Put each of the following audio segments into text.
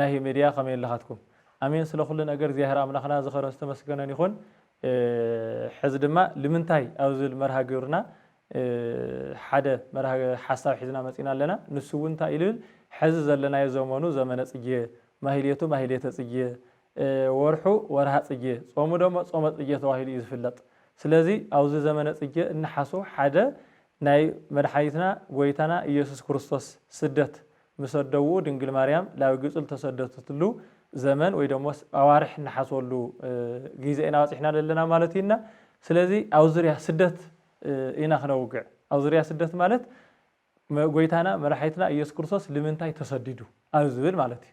ናሂ ሜድያ ከመይ ኣለኻትኩም ኣሜን ስለ ኩሉ ነገር እግዚኣብሔር ኣምላኽና ዝኸበረን ዝተመስገነን ይኹን ሕዚ ድማ ልምንታይ ኣብ ዝብል መርሃ ግብርና ሓደ ሓሳብ ሒዝና መፂእና ኣለና ንሱ እውን እንታይ እዩ ልብል ሕዚ ዘለናዮ ዘመኑ ዘመነ ፅጌ ማህሌቱ ማህሌተ ፅጌ ወርሑ ወርሃ ፅጌ ፆሙ ደሞ ፆመ ፅጌ ተባሂሉ እዩ ዝፍለጥ ስለዚ ኣብዚ ዘመነ ፅጌ እንሓስቦ ሓደ ናይ መድሓኒትና ጎይታና እየሱስ ክርስቶስ ስደት ምስ ኣደኡ ድንግል ማርያም ላብ ግብጺ ልተሰደትትሉ ዘመን ወይ ደሞስ ኣዋርሕ እንሓስበሉ ጊዘ ኢና በጺሕና ለለና ማለት እዩ እና ስለዚ ኣብ ዙርያ ስደት ኢና ክነውግዕ ኣብ ዙርያ ስደት ማለት ጎይታና መራሒትና ኢየሱስ ክርስቶስ ልምንታይ ተሰዲዱ ኣብ ዝብል ማለት እዩ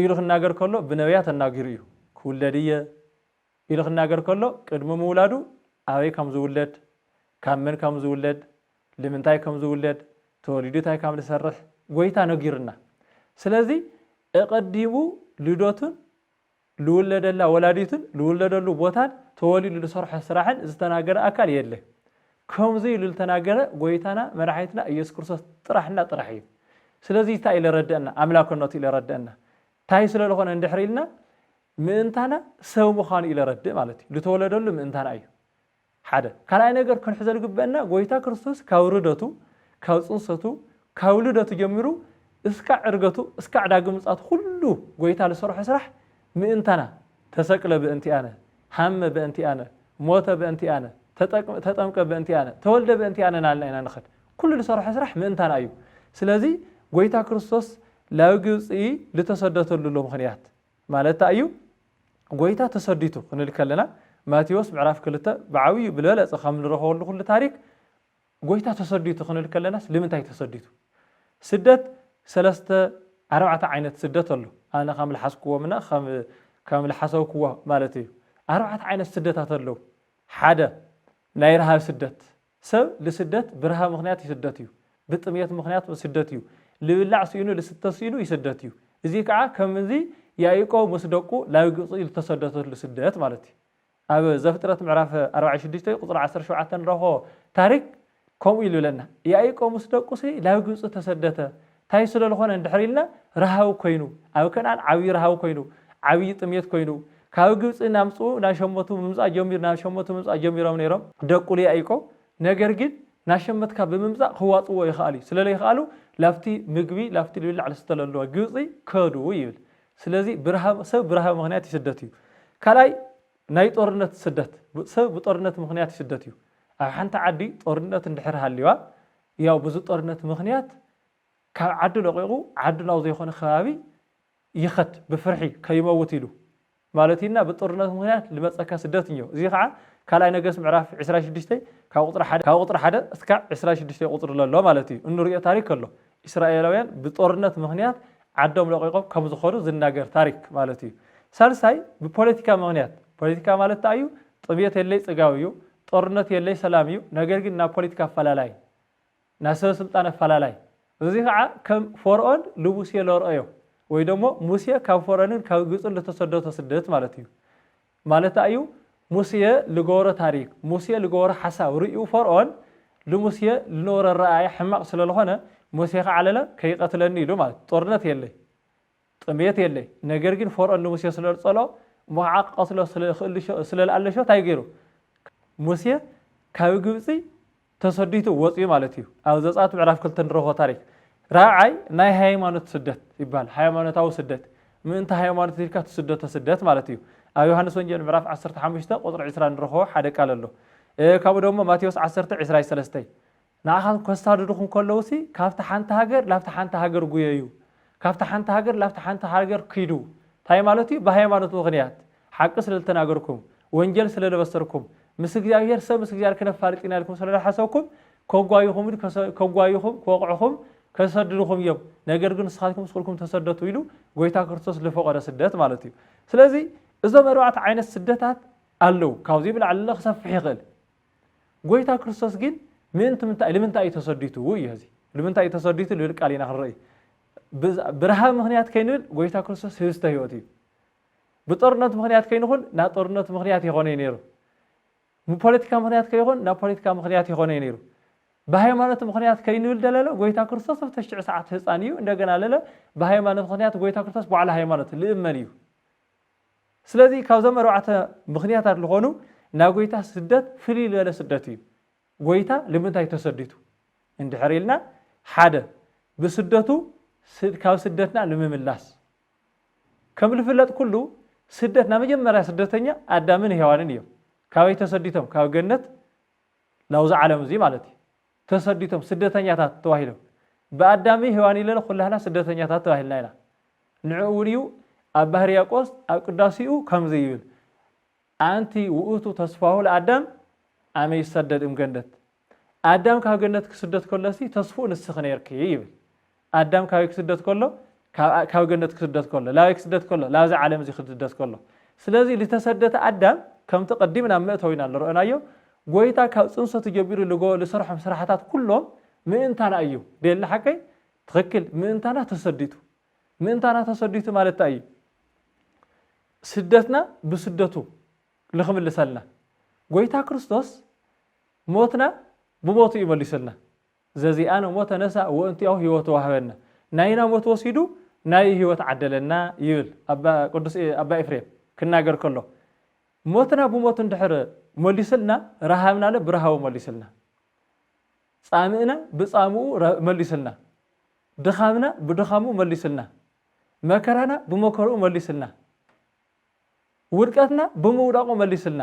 ኢሉ ክናገር ከሎ ብነብያት ኣናጊሩ እዩ። ክውለድ እየ ኢሉ ክናገር ከሎ ቅድሚ ምውላዱ ኣበይ ከም ዝውለድ፣ ካብ መን ከም ዝውለድ፣ ልምንታይ ከም ዝውለድ፣ ተወሊዱ ታይ ከም ዝሰርሕ ጎይታ ነጊሩና። ስለዚ እቐዲሙ ልደቱን ልውለደላ ወላዲቱን ልውለደሉ ቦታን ተወሊዱ ልሰርሖ ስራሕን ዝተናገረ ኣካል የለ ከምዙይ ኢሉ ልተናገረ ጎይታና መድሓኒትና እየሱስ ክርስቶስ ጥራሕ እና ጥራሕ እዩ ስለዙይ ታይ ለረደእና ኣምላክነቱ ኢለረደእና ታይ ስለልኾነ እንድሕር ኢልና ምእንታና ሰብ ምዃኑ ኢለረድእ ማለት እዩ ልተወለደሉ ምእንታና እዩ ሓደ ካልኣይ ነገር ክንሕዞ ልግበእና ጎይታ ክርስቶስ ካብ ርደቱ ካብ ጽንሰቱ ካብ ልደቱ ጀሚሩ እስካዕ ዕርገቱ እስካዕ ዳግም ምጽኣቱ ኩሉ ጎይታ ልሰርሖ ስራሕ ምእንታና ተሰቅለ በእንቲኣነ ሃመ በእንቲኣነ ሞተ በእንቲኣነ ተጠምቀ በእንቲኣነ ተወልደ በእንቲኣነ ናልና ኢና ንኸድ ኩሉ ልሰርሖ ስራሕ ምእንታና እዩ ስለዚ ጎይታ ክርስቶስ ላብ ግብጺ ልተሰደተሉ ሎ ምኽንያት ማለታ እዩ ጎይታ ተሰዲቱ ክንል ከለና ማቴዎስ ምዕራፍ ክልተ ብዓብዩ ብልበለጸ ከም ንረኸበሉ ኩሉ ታሪክ ጎይታ ተሰዲቱ ክንል ከለናስ ልምንታይ ተሰዲቱ ስደት ሰለስተ ኣርባዕተ ዓይነት ስደት ኣሎ ኣነ ከም ልሓስክዎምና ከም ከም ልሓሰብክዎ ማለት እዩ ኣርባዕተ ዓይነት ስደታት ኣለው ሓደ ናይ ረሃብ ስደት ሰብ ልስደት ብርሃ ምክንያት ይስደት እዩ፣ ብጥምየት ምክንያት ይስደት እዩ፣ ልብላዕ ስኢኑ ልስተ ስኢኑ ይስደት እዩ። እዚ ከዓ ከምዚ ያኢቆብ ምስ ደቁ ላብ ግብፂ ልተሰደተሉ ስደት ማለት እዩ። ኣብ ዘፍጥረት ምዕራፍ ኣርባዓን ሽዱሽተን ቁፅሪ ዓሰርተ ሸውዓተ ንረክቦ ታሪክ ከምኡ ይልብለና ያኢቆብ ምስ ደቁ ላብ ግብፂ ተሰደተ፣ ታይ ስለልኾነ እንድሕር ኢልና ራሃዊ ኮይኑ ኣብ ከነኣን ዓብዪ ራሃዊ ኮይኑ ዓብዪ ጥምየት ኮይኑ ካብ ግብፂ ናምፅኡ ናሸመቱ ምምፃእ ጀሚሩ ናሸመቱ ምምፃእ ጀሚሮም ነይሮም ደቁ ልያኢቆ ነገር ግን ናሸመትካ ብምምፃእ ክዋፅእዎ ይኸኣሉ እዩ ስለለይኸኣሉ ላብቲ ምግቢ ላብቲ ልብላዕ ልስተ ለለዋ ግብፂ ከዱ ይብል ስለዚ ብራሃ ሰብ ብራሃዊ ምኽንያት ይስደት እዩ ካልኣይ ናይ ጦርነት ስደት ሰብ ብጦርነት ምኽንያት ይስደት እዩ ኣብ ሓንቲ ዓዲ ጦርነት እንድሕር ሃልዩዋ ያው በዚ ጦርነት ምኽንያት ካብ ዓዱ ለቒቑ ዓዱ ናብ ዘይኮነ ከባቢ ይኸድ ብፍርሒ ከይመውት ኢሉ ማለቲና ብጦርነት ምኽንያት ልመጸካ ስደት እኞ እዚ ከዓ ካልኣይ ነገስ ምዕራፍ ዕስራ ሽዱሽተ ካብ ቁፅሪ ሓደ ካብ ቁፅሪ ሓደ እስካዕ ዕስራ ሽዱሽተ ቁፅሪ ለሎ ማለት እዩ እንሪኦ ታሪክ ኣሎ እስራኤላውያን ብጦርነት ምኽንያት ዓዶም ለቂቆም ከም ዝኾኑ ዝናገር ታሪክ ማለት እዩ ሳልሳይ ብፖለቲካ ምኽንያት ፖለቲካ ማለት እንታይ እዩ ጥምየት የለይ ጽጋብ እዩ ጦርነት የለይ ሰላም እዩ ነገር ግን ናይ ፖሊትካ ኣፋላላይ ናይ ሰበ ስልጣን ኣፋላላይ እዚ ከኣ ከም ፎርኦን ልሙሴ ለርኦዮ ወይ ደሞ ሙሴ ካብ ፎረንን ካብ ግብጽን ልተሰደቶ ስደት ማለት እዩ ማለት ኣዩ ሙሴ ልገበሮ ታሪክ ሙሴ ልገበሮ ሓሳብ ርእዩ ፎርኦን ልሙሴ ልነበሮ ኣረኣእያ ሕማቅ ስለልኾነ ሙሴ ከዓለለ ከይቀትለኒ ኢሉ ማለት ጦርነት የለይ ጥምየት የለ ነገር ግን ፎርኦን ንሙሴ ስለልጸሎ እሞ ኸኣ ክቐትሎ ስለልክእሉ ስለልኣለ ሸው ታይ ገሩ ሙሴ ካብ ግብጺ ተሰዲቱ ወጽዩ ማለት እዩ ኣብ ዘጻት ምዕራፍ ክልተ ንረኽቦ ታሪክ ራብዓይ ናይ ሃይማኖት ስደት ይባሃል ሃይማኖታዊ ስደት ምእንቲ ሃይማኖት ኢልካ ትስደቶ ስደት ማለት እዩ ኣብ ዮሃንስ ወንጌል ምዕራፍ ዓሰርተ ሓሙሽተ ቁጽሪ ዕስራ ንረኽቦ ሓደ ቃል ኣሎ ካብኡ ደሞ ማቴዎስ ዓሰርተ ዕስራይ ሰለስተይ ንኣኻትኩም ከሳድዱኹም ከለዉሲ ካብታ ሓንቲ ሃገር ናብታ ሓንቲ ሃገር ጉየዩ፣ ካብታ ሓንቲ ሃገር ናብታ ሓንቲ ሃገር ኪዱ ታይ ማለት እዩ ብሃይማኖት ምኽንያት ሓቂ ስለልተናገርኩም ወንጀል ስለልበሰርኩም ምስ እግዚኣብሄር ሰብ ምስ እግዚኣብሄር ክነፋልጥ ኢና ኢልኩም ስለልሓሰብኩም ከጓዩኹም ከጓዩኹም ክወቕዑኹም ከሰድዱኹም እዮም ነገር ግን ንስኻትኩም ስኹልኩም ተሰደቱ ኢሉ ጎይታ ክርስቶስ ልፈቐደ ስደት ማለት እዩ ስለዚ እዞም ኣርባዕተ ዓይነት ስደታት ኣለዉ ካብዚ ብላዕሊ ክሰፍሕ ይኽእል ጎይታ ክርስቶስ ግን ምእንቲ ምንታይ ልምንታይ እዩ ተሰዲቱ እዩ እዚ ልምንታይ እዩ ተሰዲቱ ልብል ቃል ኢና ክንርኢ ብረሃብ ምክንያት ከይንብል ጎይታ ክርስቶስ ህብስተ ህይወት እዩ ብጦርነት ምክንያት ከይንኹን ናብ ጦርነት ምክንያት የኾነ እዩ ነይሩ ብፖለቲካ ምክንያት ከይኾን ናብ ፖለቲካ ምክንያት የኾነ እዩ ነይሩ ብሃይማኖት ምክንያት ከይንብል ደለለ ጎይታ ክርስቶስ ኣብ ተሽዑ ሰዓት ህፃን እዩ እንደገና ለለ ብሃይማኖት ምክንያት ጎይታ ክርስቶስ ባዕሉ ሃይማኖት ልእመን እዩ ስለዚ ካብዞም ኣርባዕተ ምኽንያታት ልኾኑ ናይ ጎይታ ስደት ፍልይ ልበለ ስደት እዩ። ጎይታ ልምንታይ ተሰዲቱ እንድሕር ኢልና ሓደ ብስደቱ ካብ ስደትና ልምምላስ። ከም ልፍለጥ ኩሉ ስደት ናይ መጀመርያ ስደተኛ ኣዳምን ሄዋንን እዮም። ካበይ ተሰዲቶም ካብ ገነት ናብዚ ዓለም እዙይ ማለት እዩ። ተሰዲቶም ስደተኛታት ተባሂሎም ብኣዳምይ ሄዋንይ ለለ ኩላህና ስደተኛታት ተባሂልና ኢና ንዑ እውን እዩ ኣብ ባህርያቆስ ኣብ ቅዳሴኡ ከምዚ ይብል ኣንቲ ውእቱ ተስፋሁ ለኣዳም ኣመ ይሰደድ እምገነት ኣዳም ካብ ገነት ክስደት ከሎሲ ተስፉኡ ንስኺ ነይርኪ ይብል ኣዳም ካበይ ክስደት ከሎ ካብ ካብ ገነት ክስደት ከሎ ላበይ ክስደት ከሎ ላብዚ ዓለም እዚ ክስደት ከሎ ስለዚ ዝተሰደተ ኣዳም ከምቲ ቀዲምና ኣብ መእተዊና ዝረኦናዮ ጎይታ ካብ ጽንሰቱ ጀቢሩ ልጎ ዝሰርሖም ስራሕታት ኩሎም ምእንታና እዩ ደየለ ሓቀይ ትኽክል ምእንታና ተሰዲቱ ምእንታና ተሰዲቱ ማለት እንታይ እዩ ስደትና ብስደቱ ልክምልሰልና ጎይታ ክርስቶስ ሞትና ብሞቱ እዩ መሊሱልና ዘዚኣነ እሞ ተነሳ ወእንቲኣሁ ሕይወት ወሀበነ፣ ናይና ሞት ወሲዱ ናዩ ሕይወት ዓደለና ይብል ቅዱስ ኣባ ኤፍሬም ክናገር ከሎ። ሞትና ብሞቱ እንድሕር መሊሱልና ረሃብናለ ብረሃቡ መሊሱልና፣ ጻምእና ብጻምኡ መሊሱልና፣ ድኻምና ብድኻሙ መሊሱልና፣ መከራና ብመከርኡ መሊሱልና፣ ውድቀትና ብምውዳቑ መሊሱልና፣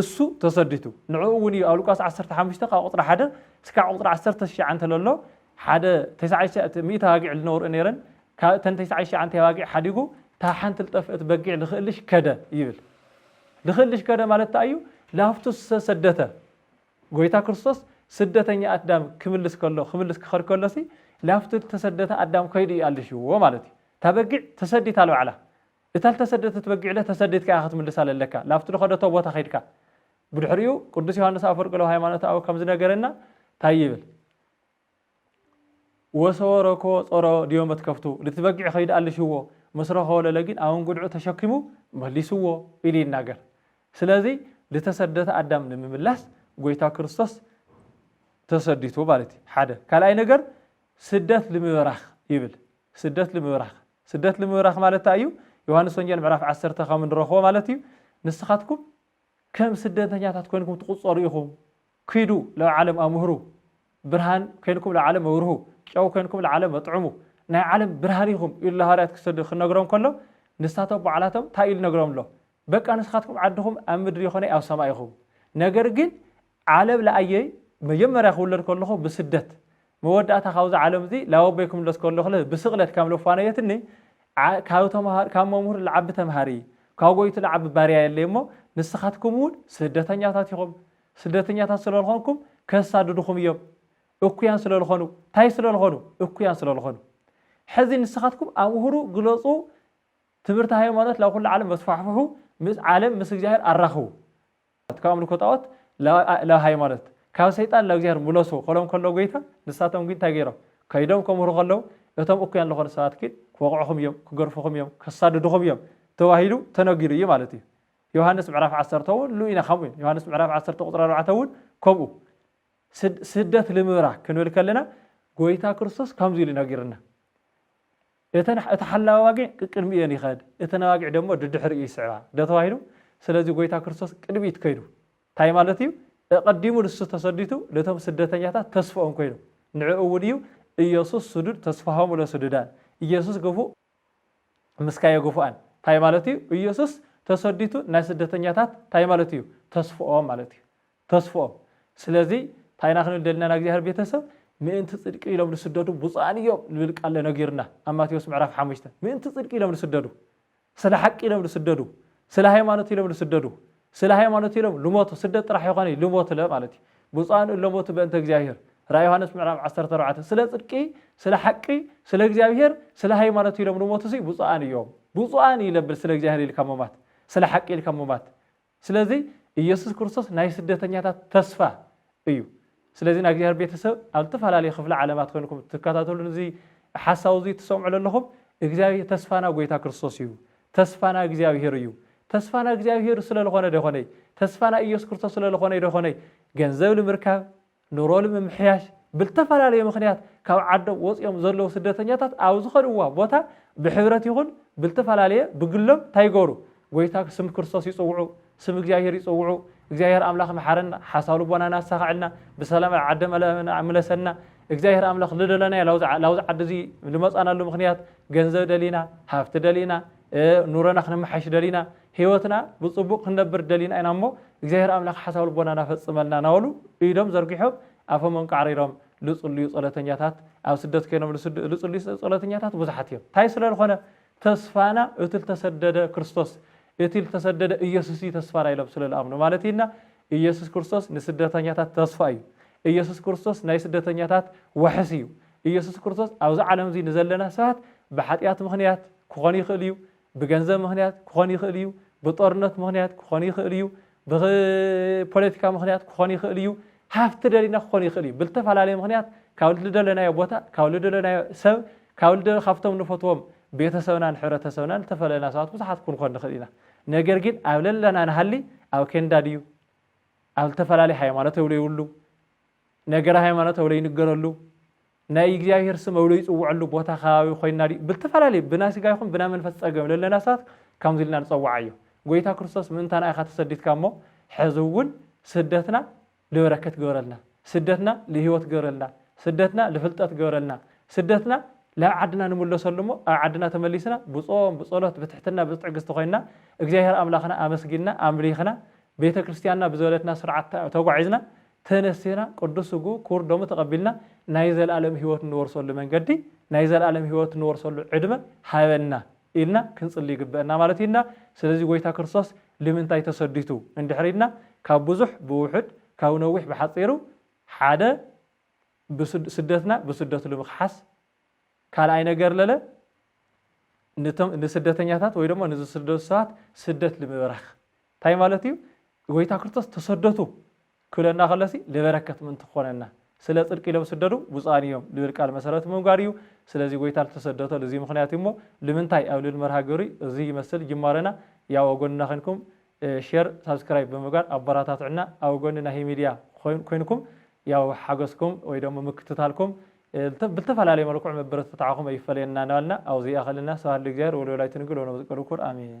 እሱ ተሰዲቱ ንዕኡ እውን እዩ ኣብ ሉቃስ ዓሰርተ ሓሙሽተ ካብ ቁፅሪ ሓደ እስካዕ ቁፅሪ ዓሰርተ ትሽዓ እንተለሎ ሓደ ተስዓሽተ ሚእቲ ኣባጊዕ ልነውርእ ነይረን ካብ እተን ተስዓሽዓንቲ ኣባጊዕ ሓዲጉ እታ ሓንቲ ልጠፍእት በጊዕ ልክእልሽ ከደ ይብል ልክእልሽ ከደ ማለት እንታይ እዩ ላፍቱ ሰደተ ጎይታ ክርስቶስ ስደተኛ ኣዳም ክምልስ ከሎ ክምልስ ክኸድ ከሎሲ ላፍቱ ተሰደተ ኣዳም ከይዱ ይኣልሽዎ ማለት እዩ እታ በጊዕ ተሰዲታ ልባዕላ እታ ልተሰደተት በጊዕለ ተሰዲድካ ኢኻ ክትምልሳ ለለካ፣ ላብቲ ልኸደቶ ቦታ ኸይድካ። ብድሕሪኡ ቅዱስ ዮሓንስ ኣፈወርቂ ለሃይማኖተ ኣበው ከም ዝነገረና ታይ ይብል? ወሰወረኮ ጾሮ ዲዮ መትከፍቱ፣ ልቲ በጊዕ ኸይዱ ኣልሽዎ፣ ምስ ረኸቦ ለለጊን ኣብ እንጉድዑ ተሸኪሙ መሊስዎ ኢሉ ይናገር። ስለዚ ልተሰደተ ኣዳም ንምምላስ ጎይታ ክርስቶስ ተሰዲቱ ማለት እዩ። ሓደ ካልኣይ ነገር ስደት ልምበራኽ ይብል። ስደት ልምብራኽ ስደት ልምብራኽ ማለት እንታይ እዩ? ዮሃንስ ወንጌል ምዕራፍ ዓሰርተ ከም እንረኽቦ ማለት እዩ ንስኻትኩም ከም ስደተኛታት ኮይንኩም ትቑፀሩ ኢኹም ኪዱ ላብ ዓለም ኣምህሩ ብርሃን ኮይንኩም ላብ ዓለም ኣብርሁ ጨው ኮይንኩም ንዓለም ኣጥዕሙ ናይ ዓለም ብርሃን ኢኹም ኢሉ ሃዋርያት ክሰዱ ክነግሮም ከሎ ንሳቶም ባዕላቶም እንታይ ኢሉ ነግሮም ኣሎ በቃ ንስኻትኩም ዓድኹም ኣብ ምድሪ ይኾነይ ኣብ ሰማይ ኢኹም ነገር ግን ዓለም ለኣየይ መጀመርያ ክውለድ ከለኹ ብስደት መወዳእታ ካብዚ ዓለም እዚ ላወበይ ክምለስ ከለኹለ ብስቕለት ካም ለፋነየትኒ ካብ ተምሃር ካብ መምህር ለዓቢ ተምሃሪ ካብ ጎይቱ ለዓቢ ባርያ የለይ እሞ ንስኻትኩም እውን ስደተኛታት ኢኹም ስደተኛታት ስለልኾንኩም ከሳድድኹም እዮም እኩያን ስለልኾኑ እንታይ ስለልኾኑ እኩያን ስለልኾኑ ሕዚ ንስኻትኩም ኣምህሩ ግለፁ ትምህርቲ ሃይማኖት ላብ ኩሉ ዓለም ኣስፋሕፍሑ ምስ ዓለም ምስ እግዚኣብሔር ኣራኽቡ። ካብ ኣምልኮ ጣኦት ላብ ሃይማኖት ካብ ሰይጣን ላብ እግዚኣብሔር ምለሱ ክብሎም ከሎ ጎይታ ንሳቶም ግን እንታይ ገይሮም ከይዶም ከምህሩ ከለው እቶም እኩያን ልኾኑ ሰባት ግን ክወቕዕኹም እዮም ክገርፍኹም እዮም ከሳድድኹም እዮም ተባሂሉ ተነጊሩ እዩ ማለት እዩ። ዮሃንስ ምዕራፍ ዓሰርተ እውን ሉ ኢና ከምኡ ዮሃንስ ምዕራፍ ዓሰርተ ቁፅሪ ኣርባዕተ እውን ከምኡ ስደት ልምብራ ክንብል ከለና ጎይታ ክርስቶስ ከምዚ ኢሉ ነጊርና እተን እቲ ሓላዊ ኣባጊዕ ቅቅድሚ እዮን ይኸድ እተን ኣባጊዕ ደሞ ድድሕሪኡ ይስዕባ ዶ ተባሂሉ ስለዚ ጎይታ ክርስቶስ ቅድሚት ከይዱ ታይ ማለት እዩ እቀዲሙ ንሱ ተሰዲቱ ነቶም ስደተኛታት ተስፍኦም ኮይኑ ንዕኡ እውን እዩ እዮሱስ ስዱድ ተስፋሆሙ ለስዱዳን እዮሱስ ግፉእ ምስካዮ ግፉኣን ታይ ማለት እዩ እዮሱስ ተሰዲቱ ናይ ስደተኛታት ታይ ማለት እዩ ተስፍኦም ማለት እዩ ተስፍኦም ስለዚ ታይ ኢና ክንብል ደሊና ናእግዚኣብሔር ቤተሰብ ምእንቲ ፅድቂ ኢሎም ልስደዱ ብፁኣን እዮም ልብል ቃል ነጊሩና ኣብ ማቴዎስ ምዕራፍ ሓሙሽተ ምእንቲ ፅድቂ ኢሎም ልስደዱ ስለ ሓቂ ኢሎም ልስደዱ ስለ ሃይማኖት ኢሎም ልስደዱ ስለ ሃይማኖት ኢሎም ልሞቱ ስደት ጥራሕ ኣይኾነይ ልሞትለ ማለት እዩ ብፁኣን እለሞቱ በእንተ እግዚኣብሔር ራእይ ዮሃንስ ምዕራፍ ዓሰርተ ኣርባዕተ ስለ ፅድቂ ስለ ሓቂ ስለ እግዚኣብሔር ስለ ሃይማኖት ኢሎም ልሞቱ ሲ ብፁኣን እዮም ብፁኣን ይለብል ስለ እግዚኣብሔር ኢልካ ምሟት ስለ ሓቂ ኢልካ ምሟት ስለዚ ኢየሱስ ክርስቶስ ናይ ስደተኛታት ተስፋ እዩ። ስለዚ ናይ እግዚኣብሔር ቤተሰብ ኣብ ዝተፈላለዩ ክፍለ ዓለማት ኮይንኩም ትከታተሉን እዚ ሓሳዊ እዚ ትሰምዑ ለለኹም እግዚኣብሔር ተስፋና ጎይታ ክርስቶስ እዩ። ተስፋና እግዚኣብሔር እዩ። ተስፋና እግዚኣብሔር ስለልኾነ ዶ ይኾነይ? ተስፋና ኢየሱስ ክርስቶስ ስለልኾነይ ዶ ይኾነይ? ገንዘብ ንምርካብ ኑሮ ንምምሕያሽ ብልተፈላለየ ምኽንያት ካብ ዓዶም ወፂኦም ዘለዉ ስደተኛታት ኣብ ዝኸድዋ ቦታ ብሕብረት ይኹን ብልተፈላለየ ብግሎም ታይ ይገብሩ? ጎይታ ስም ክርስቶስ ይፅውዑ፣ ስም እግዚኣብሄር ይፅውዑ፣ እግዚኣብሄር ኣምላኽ ምሓረና፣ ሓሳብ ልቦናና ኣሳኽዐልና፣ ብሰላም ኣብ ዓዲ መለና ምለሰና፣ እግዚኣብሄር ኣምላኽ ልደለናዮ ላብዚ ዓዲ እዙይ ልመፃናሉ ምኽንያት ገንዘብ ደሊና፣ ሃፍቲ ደሊና፣ ኑሮና ክነመሓይሽ ደሊና፣ ሕይወትና ብጽቡቕ ክንነብር ደሊና ኢና እሞ እግዚኣብሔር ኣምላኽ ሓሳብ ልቦናና ፈጽመልና ናበሉ ኢዶም ዘርጊሖም ኣፎም ኣንቃዕሪሮም ልጽልዩ ጸሎተኛታት ኣብ ስደት ኮይኖም ልጽልዩ ጸሎተኛታት ብዙሓት እዮም እንታይ ስለ ልኾነ ተስፋና እቲ ልተሰደደ ክርስቶስ እቲ ልተሰደደ ኢየሱስ እዩ ተስፋና ኢሎም ስለ ልኣምኑ ማለት እዩ እና ኢየሱስ ክርስቶስ ንስደተኛታት ተስፋ እዩ ኢየሱስ ክርስቶስ ናይ ስደተኛታት ዋሕስ እዩ ኢየሱስ ክርስቶስ ኣብዚ ዓለም እዚ ንዘለና ሰባት ብሓጢኣት ምኽንያት ክኾን ይኽእል እዩ ብገንዘብ ምኽንያት ክኾን ይኽእል እዩ፣ ብጦርነት ምኽንያት ክኾን ይኽእል እዩ፣ ብፖለቲካ ምኽንያት ክኾን ይኽእል እዩ፣ ሃፍቲ ደሊና ክኾን ይኽእል እዩ፣ ብልተፈላለየ ምኽንያት ካብ ልደለናዮ ቦታ፣ ካብ ልደለናዮ ሰብ፣ ካብ ልደ ካብቶም ንፈትዎም ቤተሰብናን ሕብረተሰብናን ልተፈለለና ሰባት ብዙሓት ክንኮን ንኽእል ኢና። ነገር ግን ኣብ ለለና ንሃሊ ኣብ ኬንዳ ድዩ፣ ኣብ ልተፈላለየ ሃይማኖት እብለ ይብሉ፣ ነገረ ሃይማኖት እብለ ይንገረሉ፣ ናይ እግዚኣብሔር ስም እብሎ ይጽውዐሉ ቦታ ከባቢ ኮይና ድዩ ብተፈላለየ ብናይ ስጋ ይኹን ብናይ መንፈስ ጸገም ለለና ሰባት ከምዚ ኢልና ንጸውዓዮ ጎይታ ክርስቶስ ምእንታና ኢኻ ተሰዲትካ እሞ ሕዚ እውን ስደትና ልበረከት ግበረልና ስደትና ልህይወት ግበረልና ስደትና ልፍልጠት ግበረልና ስደትና ላብ ዓድና ንምለሰሉ እሞ ኣብ ዓድና ተመሊስና ብጾም ብጸሎት ብትሕትና ብትዕግስቲ ኮይና እግዚኣብሔር ኣምላኽና ኣመስጊንና ኣምሊኽና ቤተ ክርስትያንና ብዘበለትና ስርዓት ተጓዒዝና ተነሲና ቅዱስ ስግኡ ክቡር ደሙ ተቐቢልና ናይ ዘለኣለም ሕይወት እንወርሰሉ መንገዲ ናይ ዘለኣለም ሕይወት እንወርሰሉ ዕድመ ሃበና ኢልና ክንጽሊ ይግበእና ማለት እዩ እና ስለዚ ጐይታ ክርስቶስ ልምንታይ ተሰዲቱ እንድሕሪ ኢልና ካብ ብዙሕ ብውሑድ ካብ ነዊሕ ብሓጺሩ ሓደ ስደትና ብስደቱ ልምክሓስ ካልኣይ ነገር ለለ ንስደተኛታት ወይ ደሞ ንዝስደዱ ሰባት ስደት ልምበራኽ ታይ ማለት እዩ ጎይታ ክርስቶስ ተሰደቱ ክብለና ከሎሲ ልበረከት ምእንቲ ክኾነና ስለ ጽድቂ ኢሎም ስደዱ ብፁዓን እዮም ልብል ቃል መሰረት ብምግባር እዩ ስለዚ ጎይታ ልተሰደቶ ልዚ ምኽንያት እዩ እሞ ልምንታይ ኣብ ልብል መርሃ ግብሪ እዚ ይመስል ጅማረና ያው ኣብ ጎንና ከንኩም ሼር ሳብስክራይብ ብምግባር ኣበራታትዑና ኣብ ጎኒ ናሂ ሚድያ ኮይንኩም ያው ሓገዝኩም ወይ ደሞ ምክትታልኩም ብልተፈላለየ መልክዑ መበረታትዓኹም ኣይፈለየና እናበልና ኣብዚ ይኣኸለና ስብሐት ለእግዚኣብሔር ወለወላዲቱ ድንግል ወለመስቀሉ ክቡር ኣሜን።